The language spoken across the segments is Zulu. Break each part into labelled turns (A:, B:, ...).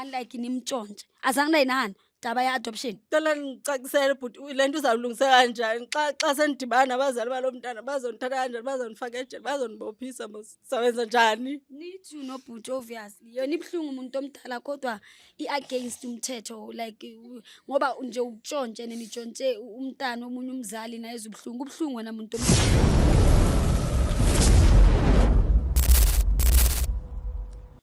A: unlike nimtshontshe azange naye nani daba ye-adoption cela ngicakisele
B: bhuti le nto uzawulungisa kanjani xa xa senidibana nabazali balo mntana bazondithatha kanjani bazondifaka ejele bazondibophisa mos sawenza njani nithi unobhuti
A: obviously yona ibuhlungu umuntu omdala kodwa i-against umthetho like u- ngoba nje utshontshe nenitshontshe u- umntana omunye umzali naye ezubuhlungu ubuhlungu wena muntu omdala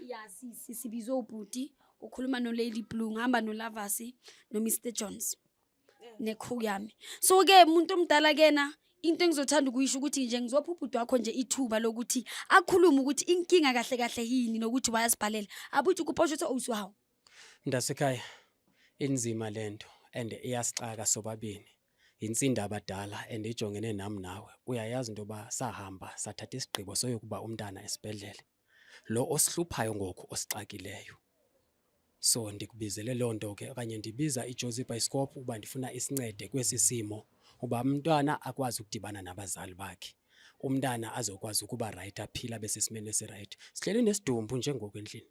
B: ya sisi
A: sibizwe ubhuti ukhuluma nolady blue ngihamba nolavasi nomr jones nekhuku yami so-ke muntu omdala kena into engizothanda ukuyisho ukuthi nje ngizopha ubhuti wakho nje ithuba lokuthi akhulume ukuthi inkinga kahle kahle yini nokuthi wayasibhalela abuthi ukuposho ukuthi owusiwawo mntasekhaya
C: inzima lento and iyasixaka sobabini Insinda abadala and ejongene nami nawe uyayazi into yoba sahamba sathatha isigqibo soyokuba umntana esibhedlele lo osihluphayo ngoku osixakileyo so ndikubizele loo nto ke okanye ndibiza ijozi bhayisikophu uba ndifuna isincede kwesi simo uba umntwana akwazi ukudibana nabazali bakhe umntana azokwazi ukuba rayithi aphile abe sesimeni esirayithi sihleli nesidumbu njengoku endlini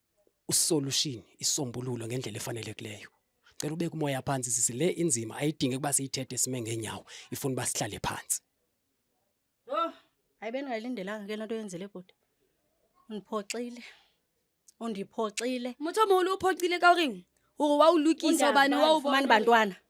C: usolution isombululo ngendlela efanelekileyo cela ubeke umoya phansi sisi le inzima ayidingi ukuba siyithethe sime ngenyawo ifuna uba sihlale phansi
D: oh hayi bendingayilindelanga ke lento yenzele bhuti undiphoxile undiphoxile motho moholo o
A: phoxile ka goreng gore wa o lokisa obane wa o mani bantwana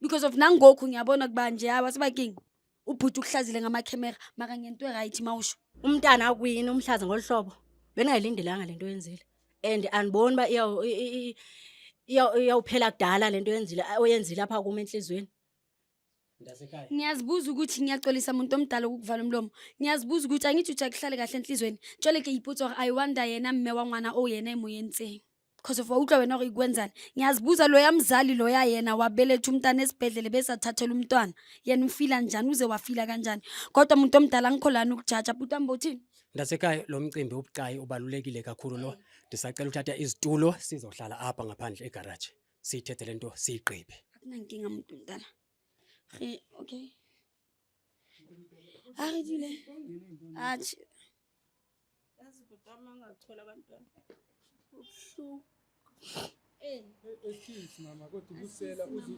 A: because of nangoku ngiyabona kuba nje hayi wasebaking ubhuti ukuhlazile ngamakhemera maka ngento right mawusho umntana akwini
D: umhlaza ngolu hlobo bengayilindelanga lento yenzile and andiboni uba iyawuphela kudala lento yenzile oyenzile apha kuma enhliziyweni
C: ngiyazibuza ukuthi
A: ngiyaxolisa muntu omdala ukukuvala umlomo ngiyazibuza ukuthi angithi ujakuhlale kahle enhliziyweni tshwale ke ipotsa gore i wonder yena mme wa ngwana o yena emoyeni tseng because of wawutlwa wena gore ikwenzani ngiyazibuza loya mzali loya yena wabeletha umntana esibhedlele bese athathela umntwana yena ufila njani uze wafila kanjani kodwa muntu omdala angikho lani ukujaja bhuti wami bowuthini Ndasekhaya lo mcimbi
C: ubucayi ubalulekile kakhulu lo. Ndisacela uthatha izitulo sizohlala apha ngaphandle egarage. Siyithethe lento siyigqibe. akunankinga muntu
A: mdala Re- okay Arijule. Achi. Yazi
B: ukuthi ama ngathola abantwana. Ubuhlungu. Eh.
E: Excuse eh, mama kodwa ubusela uzu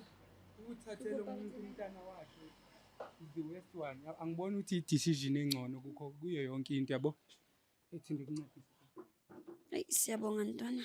E: ukuthathela umuntu umntana wakhe. The worst one. Angiboni ukuthi i-decision engcono kukho kuyo yonke into yabo. Ethi ngikuncedise. Ayi
A: siyabonga ntwana.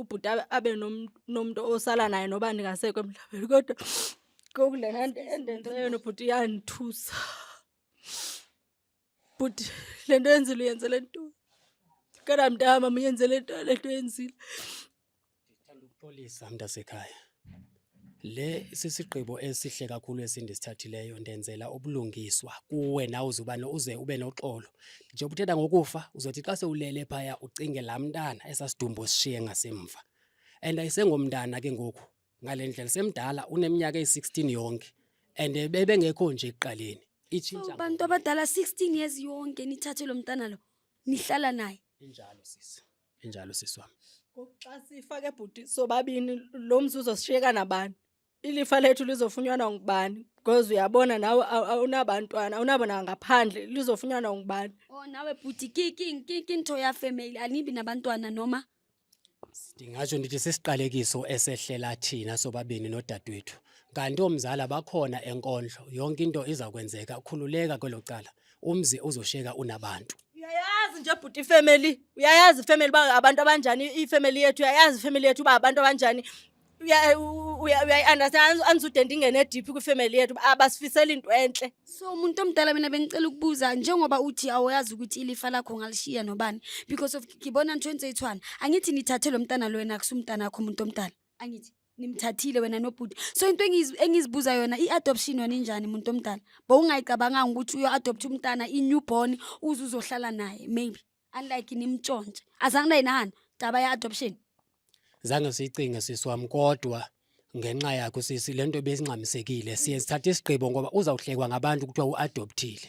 B: ubhuti abe nomuntu osala naye noba ndingasekho emhlabeni kodwa kokulena nto endenze yona ubhuti iyandithusa bhuti le nto yenzile uyenzele ntoni kana mntama muyenzele ntoni le nto yenzile ndithanda
C: ukuxolisa mntasekhaya Le sisigqibo esihle kakhulu esindisithathileyo ndenzela ubulungiswa kuwe nawe uzuba no- uze ube noxolo njengoba uthetha ngokufa uzothi xa sewulele phaya ucinge laa mntana esasidumbu osishiye ngasemva and ayisengomntana ke ngoku ngale ndlela semdala uneminyaka eyi-16 yonke and bebengekho nje ekuqaleni itshintsha So, bantu
A: abadala 16 years yonke nithathe lo mntana lo nihlala naye injalo sisi
C: Injalo sisi wami. Ngokuxa sifake
B: bhuti sobabini lo mzuzu sishiyeka nabani? Ilifa lethu lizofunyanwa ngubani? Because uyabona nawe awunabantwana, awunabona ngaphandle lizofunyanwa ngubani? Oh nawe bhuti
A: ki ki ki ki into ya family anibi nabantwana noma? Ndingasho
C: ndithi sisiqalekiso esehlela thina sobabini nodadewethu. Kanti omzala bakhona enkondlo, yonke into izakwenzeka, khululeka kwelo cala. umzi uzosheka unabantu uyayazi nje
B: bhuti ifamily uyayazi ifamily uba abantu abanjani ifamily yethu uyayazi ifamily yethu uba abantu abanjani uyayi-understand anisude ndingene ediphi kwifamily yethu abasifisela into entle so umuntu omdala
A: mina bengicela ukubuza njengoba uthi awayazi ukuthi ilifa lakho ngalishiya nobani because of ngibona nitho enze ithwana angithi nithathe lo mntana lo wena kusumntana akho umuntu omdala angithi nimthathile wena nobhuti so into engiz- engizibuza yona i-adoption yona injani muntu omdala bowungayicabanganga ukuthi uyo-adoptha umntana i-newborn uze uzohlala naye maybe unlike nimtshontshe azange nayinahana daba ya-adoption zange
C: siyicinge sisi wami kodwa ngenxa yakho sisi lento besingxamisekile siye sithathe isigqibo ngoba uzawuhlekwa ngabantu kuthiwa uadoptile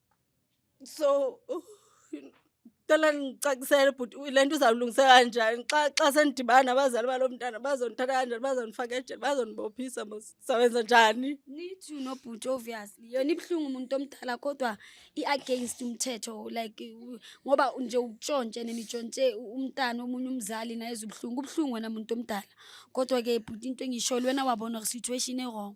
B: so uh, cela ndicakisele bhuti le nto uzawulungisa kanjani xa xa sendidibana nabazali balo mntana bazondithatha kanjani bazondifaka ejele bazondibophisa sawenza njani nithi nobhuti
A: obviously yona ibuhlungu umuntu omdala kodwa i-against umthetho like ngoba nje utshontshe nenitshontshe umntana omunye umzali naye ezubuhlungu ubuhlungu wena muntu omdala kodwa-ke bhuti into engisho lwena wabona situation erong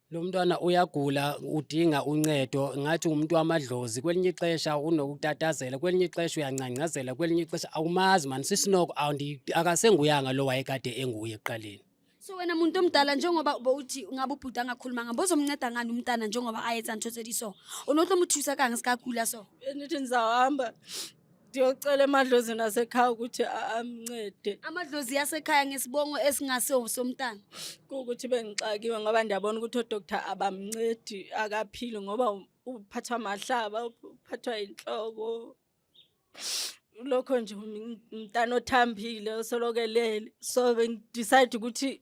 A: Lo mntwana
C: uyagula udinga uncedo ngathi umuntu wamadlozi kwelinye ixesha unokutatazela kwelinye ixesha uyangcangcazela kwelinye ixesha awumazi mani sisinoko akasenguyanga lo wayekade enguye ekuqaleni so wena muntu
A: omdala njengoba bowuthi ungabe ubhuti angakhuluma ngabo uzomnceda ngani umntana njengoba ayetsa ntshotsedi so unotlo muthusa kange sikagula so nithi ndizawuhamba
B: ndiyocela emadlozini asekhaya ukuthi amncede amadlozi yasekhaya
A: ngesibongo esingase somntana kuwukuthi
B: bengixakiwe ngoba ndiyabona ukuthi odoktar abamncedi akaphili ngoba uphathwa amahlaba uphathwa inhloko lokho nje umntana othambile osolokelele so bengidecide ukuthi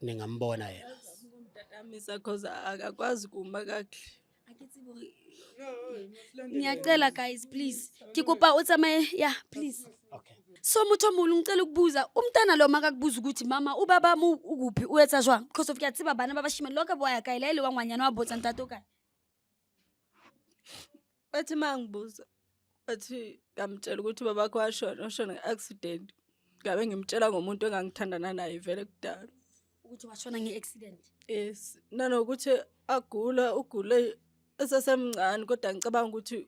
C: ningambona yena mtatamisa
B: cause akakwazi kuma kakuhle
A: ngiyacela guys please ke kopa o tsamaye ya please okay so
C: motho o mongwe
A: ngicela ukubuza umntana lo makakubuza ukuthi mama ubaba mo ukuphi o etsa jwang because of ke a tseba bana ba bashimane lo ka boya kae la e le wa ngwanyana wa botsa ntate o kae
B: Bathi uma ngibuza bathi ngamtshela ukuthi babakho washona washona nge-accident ngabe ngimtshela ngomuntu engangithandana naye vele kudala ukuthi washona
A: nge-accident yes
B: nanokuthi agula ugule esesemncane kodwa ngicabanga ukuthi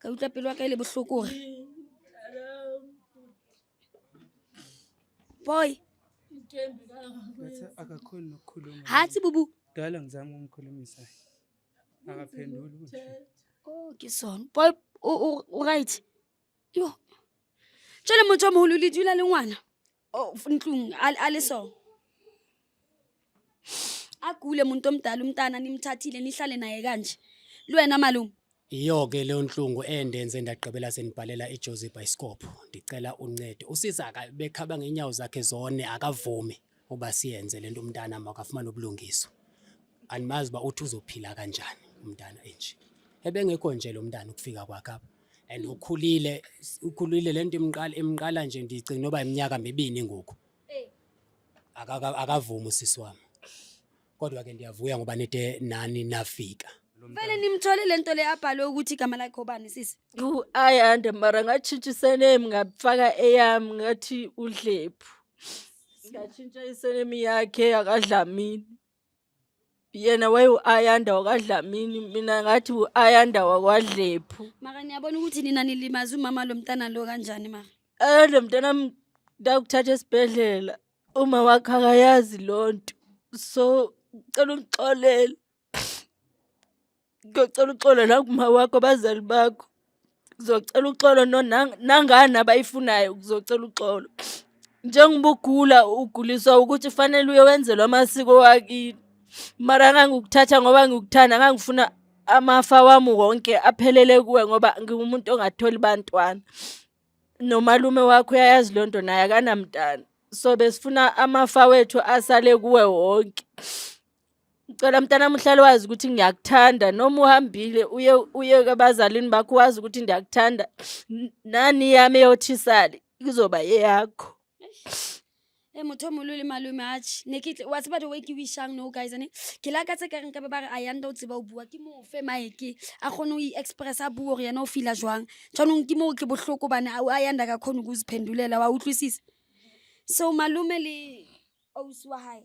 A: ka utlwa pelo ya ka e le bohloko gore boy Ngathi
E: akakhoni nokukhuluma. ha tse bubu Kudala
A: ngizama
E: ukumkhulumisa. Akaphenduli ukuthi. Oh, ke
A: sone boy o- o o right yo jale motho o mogolo le dula le ngwana Oh, Ntlung, al aliso. Agule umuntu omdala umntana nimthathile nihlale naye kanje. Lwena malume. Iyo ke leyo
C: nhlungu endenze ndagqibela senibhalela iJozi Bioscope. Ndicela uncedo. Usisi akabekhaba ngenyawo zakhe zone akavumi uba siyenze lento umntana makafumana ubulungiswa. Andimazi uba uthi uzophila kanjani umntana enje. Ebengekho nje lo mntana ukufika kwakhe apha. and ukhulile ukhulile lento imqala imqala nje ndicinga noba iminyaka mibini ngoku Eh. Akaka- akavumi usisi wami kodwa ke ndiyavuya ngoba nide nani nafika Vele nimthole
A: lento le abhalwe ukuthi igama lakhe obani sisi. Yhu, ayi ande
B: mara ngatshintsha isename ngafaka eyami ngathi udlephu ngatshintsha isename yakhe akadlamini yena waye u-ayanda wakadlamini mina ngathi u-ayanda
A: wakwadlephu maka niyabona ukuthi nina nilimaze umama lo mntana
B: lo
A: kanjani maka ayanda
B: mntana ndakuthatha esibhedlela uma wakhe akayazi loo nto so cela ungixolele ngiyocela uxolo la kuma wakho abazali bakho ngizocela uxolo nangani abayifunayo ngizocela uxolo njengoba ugula uguliswa ukuthi fanele uye wenzelwa amasiko wakini mara ngangikuthatha ngoba ngikuthanda ngangifuna amafa wami wonke aphelele kuwe ngoba ngingumuntu ongatholi bantwana nomalume wakho uyayazi loo nto naye akanamntana so besifuna amafa wethu asale kuwe wonke Ngicela mntanami uhlale wazi ukuthi ngiyakuthanda noma uhambile uye uye kabazalini bakho wazi ukuthi ndiyakuthanda nani yami eyothisali izoba yeyakho
A: e motho o molole malome ache ne ke wa tseba the way ke wishang no guys ane ke la ka tse ka reng ka ba ba re a yanda o tseba o bua ke moo fe maeke a kgone o i-express a bua gore yena o feela jwang jaanong ke moo ke bohloko bane a yanda ka kgone ko o sephendulela wa utlwisisa so malome le ausi wa gae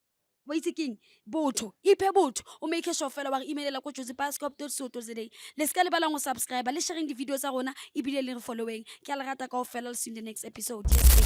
A: wa itse keng botho iphe botho o make sure fela wa re imelela ko jose pascop to soto today le se ka lebalang go subscribe le sharing di-video tsa rona ebile le re followeng ke a le rata kao fela le seng the next episode yes,